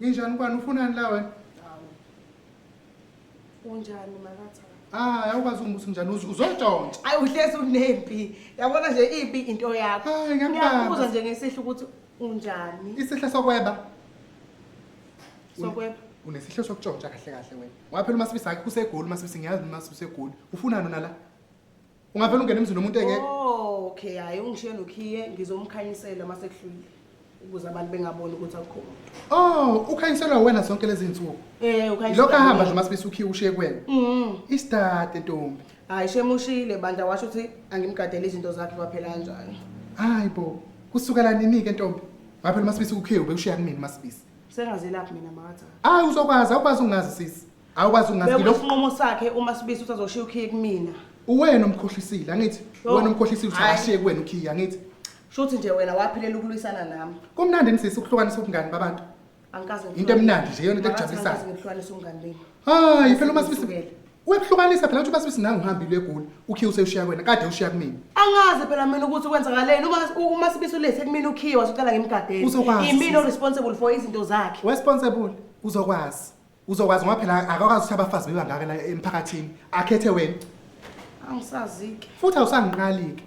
Injani ubani ufunani la wena? Hawu. Unjani makaTha? Hayi awukwazi ungibuza njani uzu- uzotshontsha. Ayi uhlezi unempi. Yabona nje ibi into yakho. Hayi, ngiyakubamba. Ngiyakubuza nje ngesihlu ukuthi unjani. Isihle sokweba. Sokweba. Unesihle sokutshontsha kahle kahle wena. Waphela uMasibisi akhe usegoli uMasibisi ngiyazi uMasibisi egoli. Ufunani nala? ungavele ungene emzini omuntu engeke oh, okay hayi ungishiye nokhiye ngizomkhanyisela uma sekuhlulile ukuze abantu bengaboni ukuthi akukho muntu oh ukhanyiselwa wena zonke lezi nsuku eh ukhanyiselwa lokho ahamba nje masibisa ukhiye ushiye kwena mhm isitade ntombi hayi shemushile bandla washo ukuthi angimgadele izinto zakhe kwaphela kanjani hayi bo kusukela nini ke ntombi ngaphela masibisa ukhiye ubekushiya kumina masibisa sengazelaphi mina makathi hayi uzokwazi awukwazi ungazi sisi awukwazi ungazi Bekuthi lokho isinqumo sakhe uma sibisi ukuthi azoshiya ukhiye kumina. uwena omkhohlisile angithi Yo. uwena omkhohlisile ukuthi Hhayi. ashiye kuwena ukhiya angithi Shuthi nje wena waphilela ukulwisana nami. kumnandi nisisi ukuhlukanisa ubungani babantu Angikaze ngikuhlole. Into emnandi nje, yona into Makathi ekujabulisayo. angikaze ngikuhlukanise umngani benu. hayi phela uma sibisi Ngisukele. wekuhlukanisa phela ukuthi uma sibisi nawe uhambile egoli ukhiya usewushiya kuwena kade ushiya kumina Angazi phela mina ukuthi kwenzakaleni uma uma sibiso lesi kumina ukhiye wasicela ngimgadele. Uzokwazi, Imina sisi. responsible for izinto zakhe. responsible uzokwazi Uzokwazi ngoba phela akakwazi ukuthi abafazi bebangaka la emphakathini. Akhethe wena. Angisazike. Futhi awusangiqalike.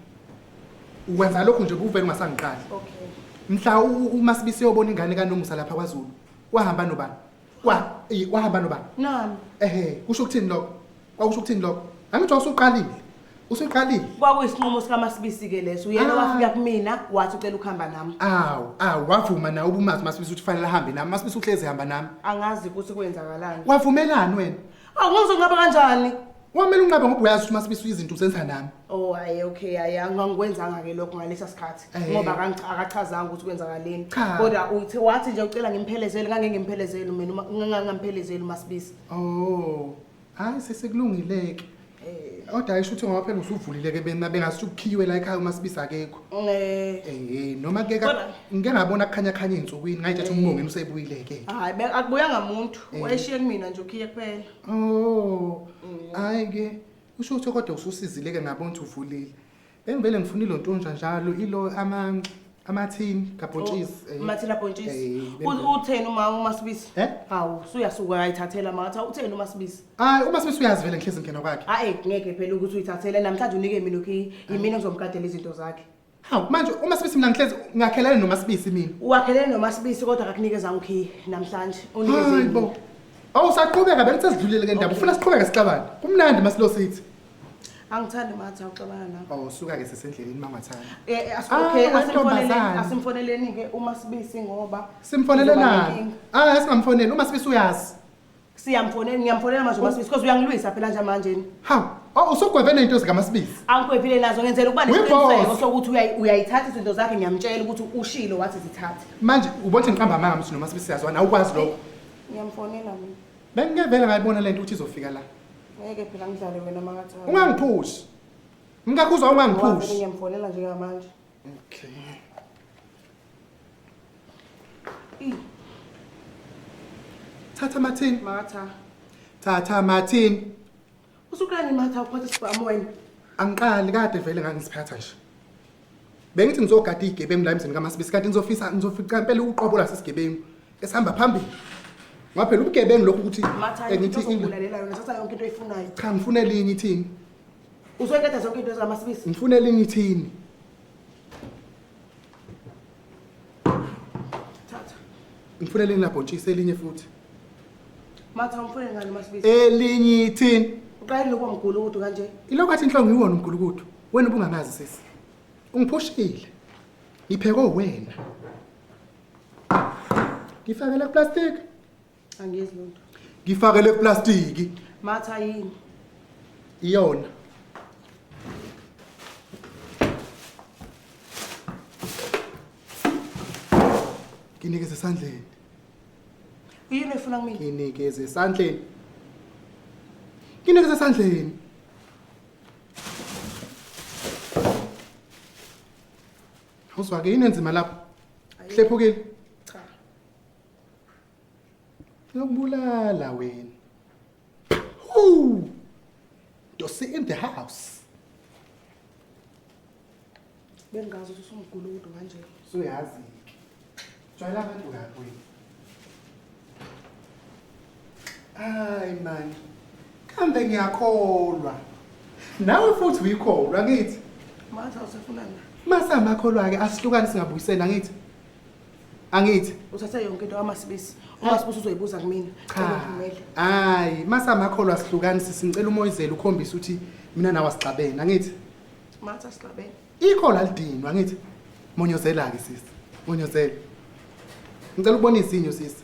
Ukwenza lokhu nje kuvele ungasangiqali. Okay. Mhla u- uma sibise yobona ingane kaNomusa lapha kwaZulu. Wahamba nobani? Wa i- wahamba nobani? Nami. Ehhe, kusho ukuthini lokho? Kwakusho ukuthini lokho? Angithi wasuqalile. Usuqalile. Kwakuyisinqumo sikaMasibisi ke leso. Uyena Ah. wafika kumina wathi ucela ukuhamba nami. Awu, awu wavuma nawe ubumazi masibisi ukuthi fanele ahambe nami. Masibisi uhlezi hamba nami. Angazi ukuthi kwenzakalani. Wavumelani wena? Awu ngizonqaba kanjani? Wamele unqabe ngoba uyazi ukuthi masibisi izinto uzenza nami. Oh hayi okay hayi angikwenzanga ke lokho ngalesa sikhathi Eh. ngoba akangi- akachazanga ukuthi kwenzakaleni. Cha. Kodwa uthi wathi nje ucela ngimphelezele ngangengemphelezele mina uma ngangamphelezele uMasibisi. Oh. hayi sesekulungileke kodwa ayisho ukuthi ngoba phela usuvulile ke bena bengasuthi ukukhiwe la ekhaya uma sibisa akekho Eh, eh noma ke ka- Kodwa- ngike ngabona kukhanya khanya izinsukwini ngayithatha umbongeni usebuyile ke hayi be- akubuyanga muntu wayeshiye kumina nje ukhiye kuphela oh hayi ke usho ukuthi kodwa ususizile ke ngabona ukuthi uvulile Engivele ngifuna ilontonjwa njalo ilo ama amathini kabhontshisi. Oh, eh. Amathini abhontshisi. Eh, eh, utheni uma uma sibisi? Eh? Hawu, suyasuka ayithathela matha. Utheni uma sibisi? Hayi, uma sibisi uyazivela ngihlezi ngena kwakhe. Hayi, ngeke phela ukuthi uyithathele namhlanje unike mina lokhi yimina ngizomgadela izinto zakhe. Hawu, manje uma sibisi mina ngihlezi ngakhelene noma sibisi mina. Uwakhelene noma sibisi kodwa akakunikeza ngikhi namhlanje. Unikeze. Hayi bo. Awusaqhubeka bengithe sidlulile ke ndaba. Ufuna siqhubeke sixabane. Kumnandi masilo sithi. Angithandi mathi awuxabana nami. Oh suka ke sesendleleni mangathanda. Eh, eh ah, okay asimfoneleni asimfoneleni ke uma sibisi ngoba simfonelelana. Ah asingamfoneli uma sibisi uyazi. Siyamfonela ngiyamfonela manje uma sibisi because uyangilwisa phela nje manje. Ha Oh usugweve nento zikaMasibisi. Angikwevile nazo ngenzela ukuba nesiqiniseko sokuthi uyayithatha izinto zakhe ngiyamtshela ukuthi ushilo wathi zithathe. Manje ubothi ngiqamba amanga mthi noMasibisi siyazwana awukwazi lokho. Ngiyamfonela mina. Bengike vele ngayibona lento ukuthi izofika la. Ngeke phela ngidlale wena makathi. Ungangiphushi. Mkakhuza ungangiphushi. Ngiyamfonela nje ngamanje. Okay. Thatha Martin. Matha. Thatha Martin. Usuqala imatha uphatha isibhamu wena. Angiqali kade vele ngangisiphatha nje. Bengithi ngizogada igebengu la emzini kaMasibisi kanti ngizofisa ngizofica impela uqobo la sesigebengu esihamba phambili. Ngaphela ubugebengu lokhu ukuthi Matha engithi into ongibulalelela yona thatha yonke into oyifunayo. cha ngifune linye ithini? Uzoyikhetha zonke into zikaMasibisi. Ngifune linye ithini? Thatha. Ngifuna elinye labhotshisi elinye futhi. Matha umfune ngani masibisi? Elinye ithini? Uqale lokho mgulukudu kanje. Ilokho athi inhlongo iwona umgulukudu. Wena ubungangazi sisi. Ungiphushile. Ngiphekwe wena. Ngifakele plastic. Angezi lutho. Ngifakele iplastiki. Matha yini? Iyona. Nginikeze esandleni. Uyini efuna kumina? Nginikeze esandleni. Nginikeze esandleni. Uzwake yini enzima lapho? Hlephukile. Cha. Ngiyokubulala wena. Woo! Dosi in the house. Bengazi ukuthi usumgula umuntu kanje. Suyazi. Jwayela abantu kabi wena. Hayi man. Kambe ngiyakholwa. Nawe futhi uyikholwa ngithi. Manje usefuna na? Masa amakholwa ke asihlukane singabuyisena ngithi. angithi uthatha yonke into kamasibisi umasibisi uzoyibuza kumina ngivumele hayi masamakholwa asihlukani sisi ngicela umoyizela ukhombisa ukuthi mina nawe asixabene angithi matha sihlabene ikho la lidinwa ngithi monyozela-ke sisi monyozela ngicela ukubona izinyo sisi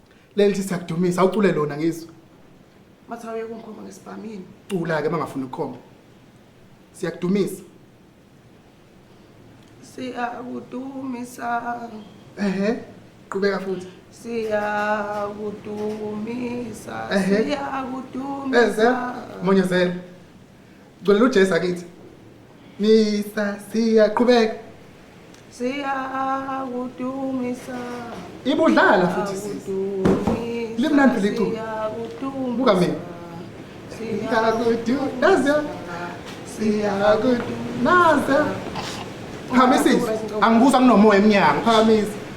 leli sithi akudumisa awucule lona ngizwe Mathawu yeke ungikhomba ngesibhamini. cula-ke uma ngafuna ukukhomba siyakudumisa Siyakudumisa, ehe qhubeka futhi siyakudumisa, Ehhe. Eze, siyakudumisa. monyezela Gcolela uJesu akithi. Misa siyaqhubeka. Siyakudumisa. Ibudlala futhi sisi. Limnandi liculo. Buka mina. Siyakudumisa. Nazi. Siyakudumisa. Nazi. Phamisa. Angibuzwa nginomoya emnyango. Phamisa.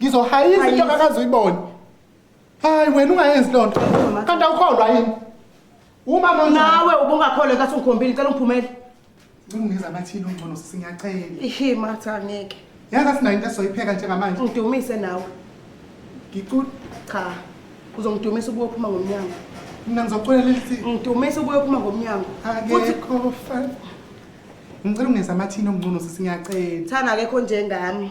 ngizohayisa into akakaze uyibone hayi wena ungayenzi loo nto kanti awukholwa yini umama nawe ubungakholwe kathi ungikhombile cela ungiphumele ngingiza amathini ongcono singacela ihi matha angeke yazi asinayo into esizoyipheka njengamanje ngidumise nawe ngicula cha uzongidumisa ubuye uphuma ngomnyango mina ngizoculela lithi ngidumisa ubuye uphuma ngomnyango futhi ngicela ungeza amathini ongcono sisi ngiyacela thana akekho njengami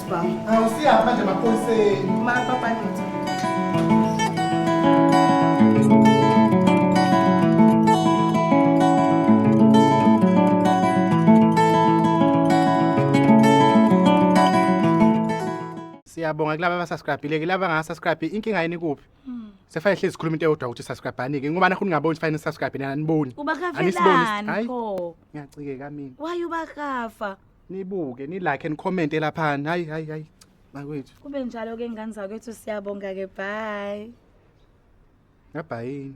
Awusiyapha nje maphoyiseni. Mapapa ndoda. Siyabonga kulaba abasubscribile ke laba ngasubscribe inkinga yini kuphi? Sefane hlezi sikhuluma into eyodwa ukuthi subscribe ke ngoba nakho ningaboni sifane subscribe nani aniboni. Uba Anisiboni. kavelani Hayi, pho. Ngiyacikeka mina. Why uba kafa? nibuke nilike and comment elaphana hayi hayi hayi bakwethu kube njalo ke ngane zakwethu siyabonga ke bye ngabhayini